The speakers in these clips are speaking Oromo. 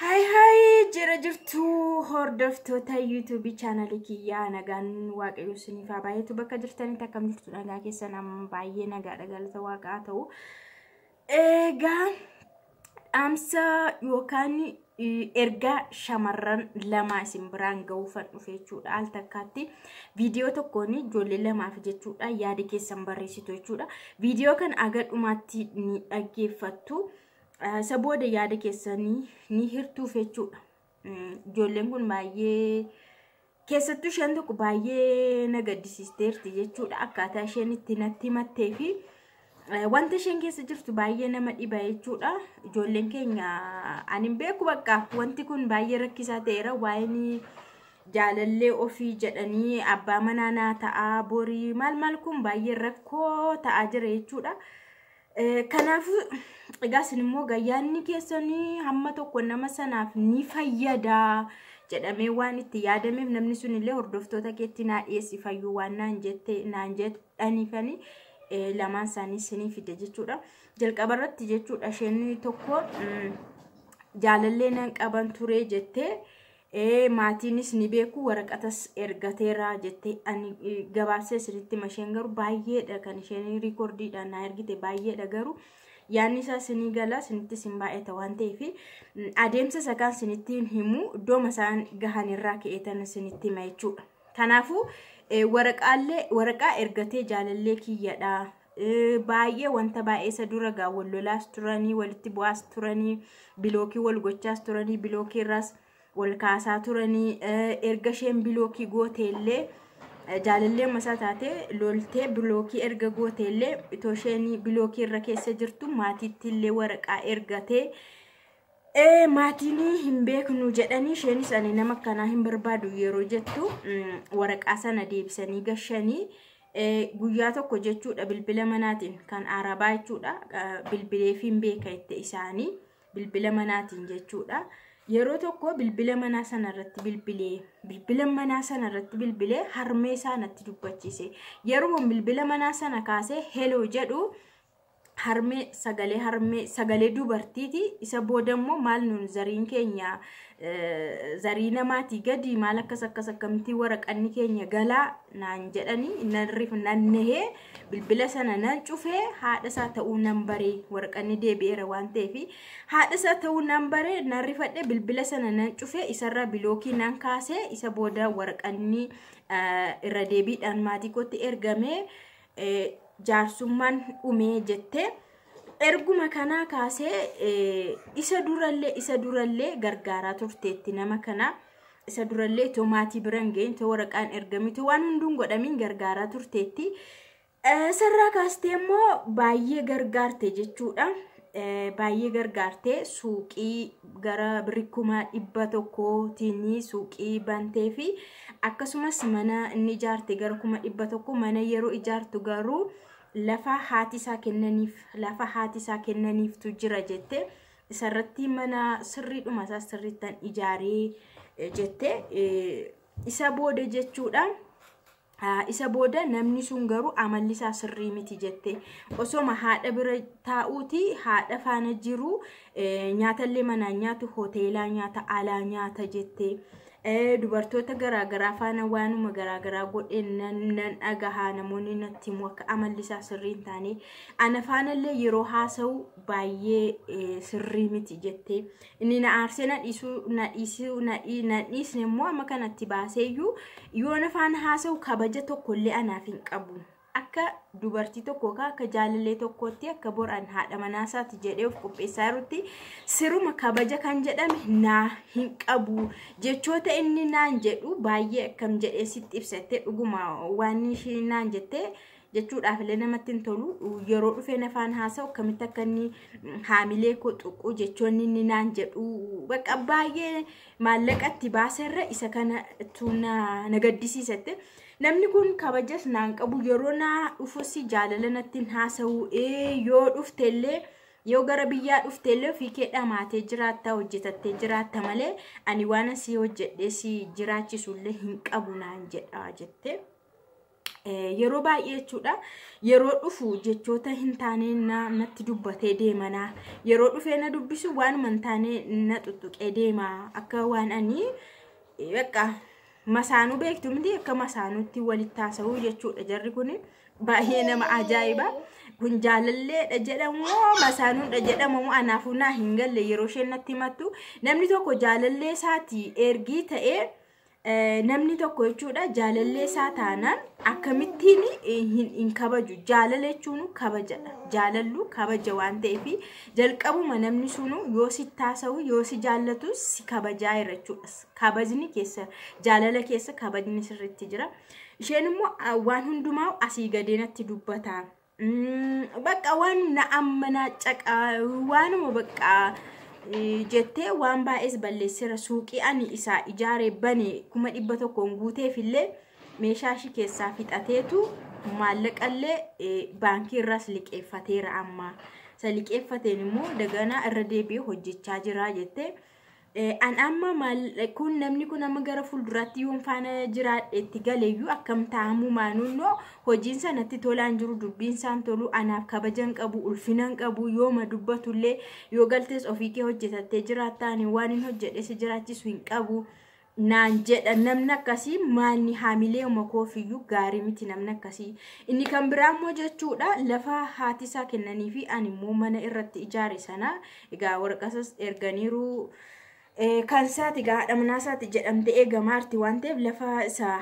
Haay haay jira jirtu hordoftoota yuutuubii chaanalii kiyyaa nagaan waaqayyo isiniif haa baay'atu bakka jirtanitti akkam jirtu nagaa keessan amma baay'ee nagaadha galata waaqaa ta'u. Egaa dhaamsa yookaan ergaa shamarran lamaa isin biraan ga'uufan dhufe jechuudha. Al takkaatti viidiyoo tokkoon ijoollee lamaaf jechuudha yaada keessan barreessitu jechuudha. Viidiyoo kan aga dhumaatti ni dhaggeeffattu. Isa booda yaada keessanii ni hirtuuf jechuudha. Ijoolleen kun baay'ee keessattuu isheen tokko baay'ee na gaddisiisteerti jechuudha. Akkaataa isheen itti natti himattee fi wanta isheen keessa jirtu baay'ee nama dhiba jechuudha. Ijoolleen keenya ani hin beeku bakka wanti kun baay'ee rakkisaa ta'eera waa'een jaalallee ofii jedhanii abbaa manaa naa ta'aa borii maal maal kun baay'ee rakkoo ta'aa jira jechuudha. Eh, Kanaafuu egaa isin immoo gayyaanni keessan hamma tokko nama sanaaf ni fayyada jedhamee waan itti yaadameef namni sun illee hordoftoota keetti naa dhiyeessi fayyuu waan naan jette naan jedhaniifani eh, lamaan isaanii isinii fide jechuudha. Jalqaba irratti jechuudha isheen tokko mm, jaalallee nan qaban ture jettee ee maatiinis ni beeku waraqatas ergateera jettee ani eh, gabaabsee isinitti hima isheen garuu baay'eedha kan isheen riikordiidhaan naa ergite baay'eedha garuu yaanni isaa sinii gala sinitti sin baay'ata waan ta'eef mm, adeemsa isa kaan sinitti hin himu iddooma isaan gahan irraa ka'eetan sinitti hima jechuudha kanaafuu eh, waraqaallee waraqaa ergatee jaalallee kiyyadha baay'ee wanta baay'ee isa dura gaa wal lolaas turanii walitti bu'aas turanii bilookii wal gochaas turanii bilookii irraas wal kaasaa turanii erga isheen bilookii gooteellee jaalallee masaa taate loltee bilookii erga gooteellee itoo isheen bilookii irra keessa jirtu maatiitti illee waraqaa ergatee maatiin hin beeknu jedhanii isheenis ani nama akkanaa hin barbaadu yeroo jettu waraqaa sana deebisanii gashanii. guyyaa tokko jechuudha bilbila manaatiin kan arabaa jechuudha bilbileefiin beeka itti isaanii bilbila manaatiin jechuudha yeroo tokko bilbila manaa sana irratti bilbilee bilbila manaa sana irratti bilbilee harmee isaa natti dubbachiise yeroo bilbila manaa sana kaasee heloo jedhu harmee sagalee harmee sagalee dubartiiti isa booda immoo maal nuun zariin keenya eh, zarii namaatii gadi maal akkas akkas akkamtii waraqanni keenya galaa naan jedhanii nan rif nan nehee bilbila sana nan cufee haadha isaa ta'uu nan baree waraqanni deebi'eera waan ta'eef haadha isaa ta'uu nan baree nan rifadhe bilbila sana nan cufee isarraa bilookii nan kaasee isa booda waraqanni eh, irra deebiidhaan maatii kootti ergamee jaarsummaan dhumee jettee erguma kanaa kaasee isa durallee isa durallee gargaaraa turteetti nama kana isa durallee too maatii bira hin geenye too waraqaan ergame too waan hunduun godhamiin gargaaraa turteetti. Sarraa kaastee immoo baay'ee gargaarte jechuudha. baay'ee gargaartee suuqii gara birrii kuma dhibba tokkootiin suuqii bantee fi akkasumas mana inni ijaarte gara kuma dhibba tokko mana yeroo ijaartu garuu lafa haati isaa kennaniif lafa haati isaa kennaniiftu jira jette isarratti mana sirriidhuma isaa sirriittan ijaaree jette isa booda jechuudha. Isa booda namni sun garuu amalli isaa sirrii miti jette. Osoma haadha bira taa'uuti haadha faana jiru nyaatallee manaan nyaatu hoteelaa nyaata alaa nyaata jette. Dubartoota garaagaraa faana waanuma garaagaraa godhe nan dhagahaa namoonni natti himu akka amalli isaa sirrii hin taane. Ana faanallee yeroo haasa'u baay'ee sirrii miti jette. inni na aarsee na dhiisuu na dhiisuu na dhii- na dhiisne immoo amma kanatti baaseeyyuu yoo nafaan haasa'u kabaja tokko illee anaaf hin qabu akka dubartii tokko yookaan akka jaalallee tokkootti akka boraan haadha manaa isaati jedhee of qopheessaa jirutti siruma kabaja kan jedhame naa hin qabu jechoota inni naan jedhu baay'ee akkam jedhee sitti ibsattee dhuguma waan isheen naan jettee jechuudhaaf illee namatti hin tolu yeroo dhufee nafaan haasa'u akkamitti akka inni haamilee koo tuqu jechoonni inni naan jedhu bakka baay'ee maallaqa itti baaserra isa kanatu na na gaddisiisatte namni kun kabajas naan qabu yeroo naa dhufus jaalala natti hin haasa'u ee yoo dhufte illee yoo gara biyyaa dhufte illee ofii kee dhamaatee jiraatta hojjetattee jiraatta malee ani waan asii hojjedhee si jiraachisu illee hin qabu naan jedha jettee. yeroo baay'ee jechuudha yeroo dhufu jechoota hin taane natti dubbatee deemana yeroo dhufee na dubbisu waanuma hin taane na tuttuqee deema akka waan ani bakka masaanuu beektu miti akka masaanuutti walitti haasa'uu jechuudha jarri kun baay'ee nama ajaa'iba. kun jaalalleedha jedhamu masaanuudha jedhamu anaafuu naa hin galle yeroo isheen natti himattu namni tokko jaalallee isaati ergii ta'ee Eh, namni tokko jechuudha jaalallee isaa taanaan akkamittiin eh, hin, hin kabaju jaalala jechuun kabajadha jaalallu kabaja waan ta'eef jalqabuma namni sunu yoo si taasa'u yoo si jaallatu si kabajaa jira jechuudha kabajni keessa jaalala keessa kabajni sirriitti jira isheen immoo ah, waan hundumaa asii gadeenatti dubbata Bakka waan na amma na caqa waanuma bakka jettee waan baay'ees balleessera suuqii ani isaa ijaare bane kuma dhibba tokkoon guuteef illee meeshaa ishii keessaa fixateetu maallaqallee baankii irraas liqeeffateera amma. Isa liqeeffateen immoo daganaa irra deebi'ee hojjechaa jira jettee Eh, an amma maal kun namni kun amma gara fuulduraatti yoon faana jiraadhe itti galeeyyuu akkam taa'amuu maanuunnoo hojiin sanatti tolaan jiru dubbiin isaan tolu anaaf kabajan qabu ulfinan qabu yooma dubbatullee yoo galtees ofii kee hojjetattee jiraattaan waan hin hojjedhe si jiraachisu hin qabu naan jedha namni akkasii maanni haamilee uma koofiyyuu gaarii miti namni akkasii inni kan biraa immoo jechuudha lafa haati isaa kennanii fi ani immoo mana irratti ijaare sana Egaa waraqasas erganiiru. Kan isaati egaa haadha manaa isaati jedhamte eegamaa jirti waan ta'eef lafa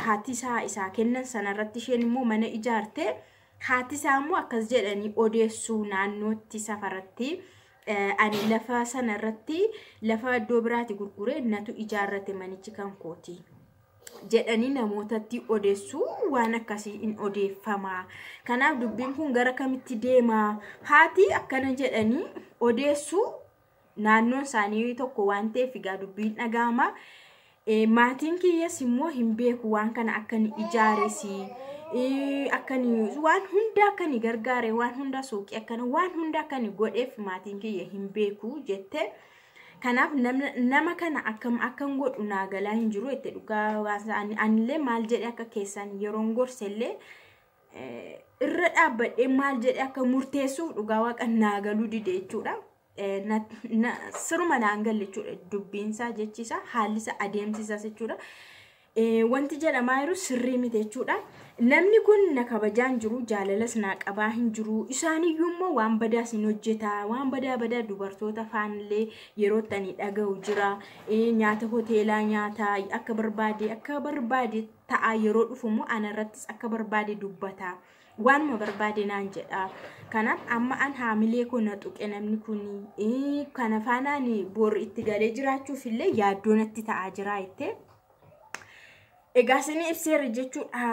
haati isaa isaa kennan sanarratti isheen immoo mana ijaarte. Haati isaa immoo akkas jedhanii odeessuu naannootti safaratti. Ani lafa sanarratti lafa iddoo biraati gurguree natu ijaarrate manichi kan kooti. jedhanii namootatti odeessu waan akkasii in odeeffama. Kanaaf dubbiin kun gara kamitti deema? Haati akkana jedhanii odeessu naannoon isaanii tokko waan ta'eef egaa dubbiin dhaga'ama. Eh, Maatiin kiyyas immoo hin beeku waan kana akka ni ijaaresi. Eh, Akka ni waan hunda akka ni gargaare waan hunda suuqii akkana waan hunda akka ni godheef maatiin kiyya hin beeku jette. Kanaaf namna- nama kana akkam akkan godhu naa galaa hin jiru jette dhugaa baasa ani- anillee maal jedhe akka keessan yeroon gorsellee eh, irra dhaabbadhee maal jedhe akka murteessuuf dhugaa waaqa naa galuu dide jechuudha. Eh, na- na- Siruma naan galle jechuudha dubbiinsaa jechisaa haallisaa adeemsisaas jechuudha. wanti jedhamaa jiru sirrii miti jechuudha. Namni kun na kabajaa hin jiru, jaalalas naa qabaa hin jiru. Isaaniyyuu immoo waan badaa sin hojjeta, waan badaa badaa dubartoota faanillee yeroo itti ani dhaga'u jira. Nyaata hoteelaa nyaata akka barbaade akka barbaade ta'a yeroo dhufu immoo ana irrattis akka barbaade dubbata. Waanuma barbaade naan jedha. Kanaaf amma an haamilee koo na tuqe namni kun kana faanaan boorri itti galee jiraachuuf illee yaaddoo natti ta'aa jira jettee. Egaa isinii ibseera jechuudha.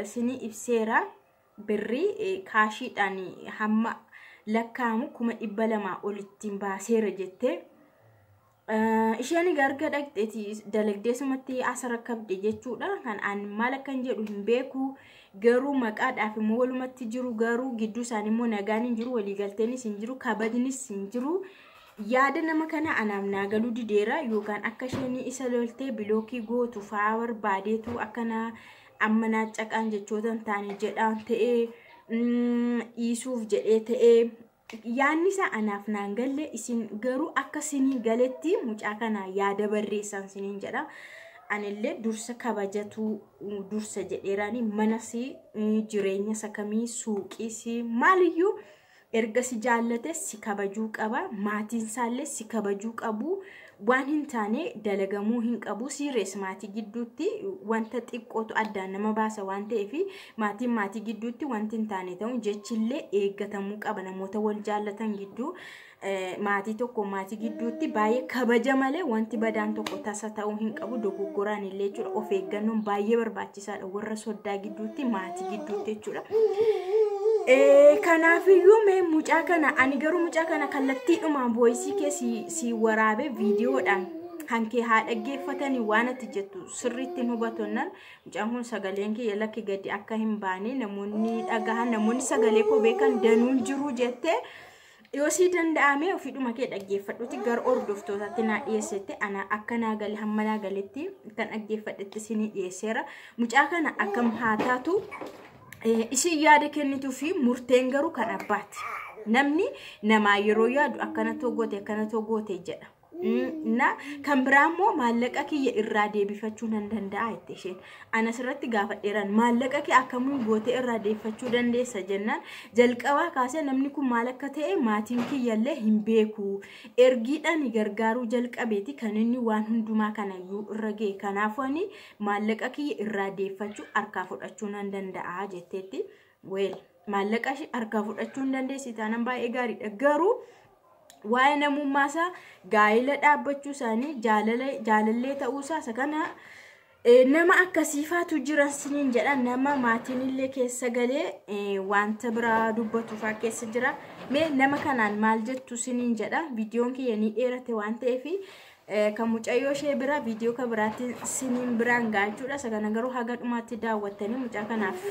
Isinii ibseera birrii kaashiidhaan hamma lakkaa'amu kuma dhibba lamaa olittiin baaseera jettee. Isheen garga dhaqxeeti dalagdee sumatti as rakkabde jechuudha. Kan aan maal akkan jedhu hin beeku. Garuu maqaadhaaf immoo walumatti jiru garuu gidduu isaanii immoo nagaan hin jiru waliigalteenis hin jiru kabajnis hin jiru. Yaada nama kana anaaf naa galuu dideera yookaan akka isheen isa loltee bilookii gootu fa'aa barbaadeetu akka naa amma naa caqaan jechoota hin taane jedhaan ta'ee mm, dhiisuuf jedhee ta'ee yaadni isaa anaaf naan galle isin garuu akka sinii galetti mucaa kana yaada barreessaan siniin jedha. Anillee dursa kabajatu dursa jedheeraani manasi jireenya sakamii suuqiisi maaliyyuu. erga si jaallate si kabajuu qaba maatiin isaallee si kabajuu qabu waan hin taane dalagamuu hin qabu siirees maatii gidduutti wanta xiqqootu addaan nama baasa waan ta'eef maatiin maatii gidduutti wanti hin taane ta'u jechillee eeggatamuu qaba namoota wal jaallatan gidduu eh, maatii tokko maatii gidduutti baay'ee kabaja malee wanti badaan tokko tasa ta'uu hin qabu dogoggoraan illee jechuudha of eeggannoon baay'ee barbaachisa. barbaachisaadha warra soddaa gidduutti maatii gidduutti jechuudha. Kanaafiyyuu mee mucaa kana ani garuu mucaa kana kallattiidhumaan booyisii kee si waraabee viidiyoodhaan kan kee haa dhaggeeffatanii waan ati jettu sirriitti hin hubatonnan mucaan kun sagaleen kiyya lakki gadi akka hin baane namoonni dhagahan namoonni sagalee koo beekan danuun jiru jettee Yoosii danda'amee ofiidhuma kee dhaggeeffadhuti gara hordoftootatti naa dhiyeessette ana akka naa gale hamma naa galetti kan dhaggeeffadhetti isinii dhiyeesseera. Mucaa kana akkam haa taatu eh, isin yaada kennituu fi murteen garuu kan abbaati. Namni namaa yeroo yaadu akkana too goote akkana too goote jedha. na kan biraa immoo maallaqa kiyya irraa deebifachuu nan danda'a jette isheen anas irratti gaafadheeran maallaqa kee akkamuu gootee irraa deebifachuu dandeessa jennaan jalqabaa kaasee namni kun maal akka ta'e maatiin kiyyallee hin beeku ergiidhaan gargaaruu jalqabeeti kan inni waan hundumaa kanayyuu irra ga'e kanaafuu ani maallaqa kiyya irraa deebifachuu harkaa fudhachuu nan danda'a jetteetti. Weel maallaqa ishee harkaa fudhachuu hin dandeessi taanaan baay'ee gaariidha garuu waa'ee namummaa isaa gaa'ila dhaabbachuu isaanii jaalala jaalallee ta'uu isaa isa kana eh, nama akkasiifaatu jiran siniin jedha nama maatiin illee keessa galee eh, wanta biraa dubbatuufaa keessa jira mee nama kanaan maal jettu siniin jedha viidiyoon kiyya ni dheerate waan ta'eef kan mucayyoo ishee bira viidiyoo kan biraatiin siniin biraan gaachuudha isa kana garuu haga dhumaatti daawwattanii mucaa kanaaf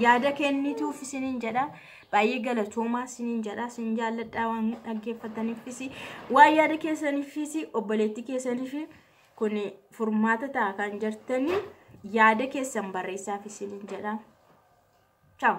yaada kennituuf siniin jedha baay'ee galatoomaa siniin jedha sin jaalladhaa waan dhaggeeffataniifis waan yaada keessaniifis obboleettii keessaniif kun furmaata ta'a kan jirtanii yaada keessan barreessaaf siniin jedha. Ciao.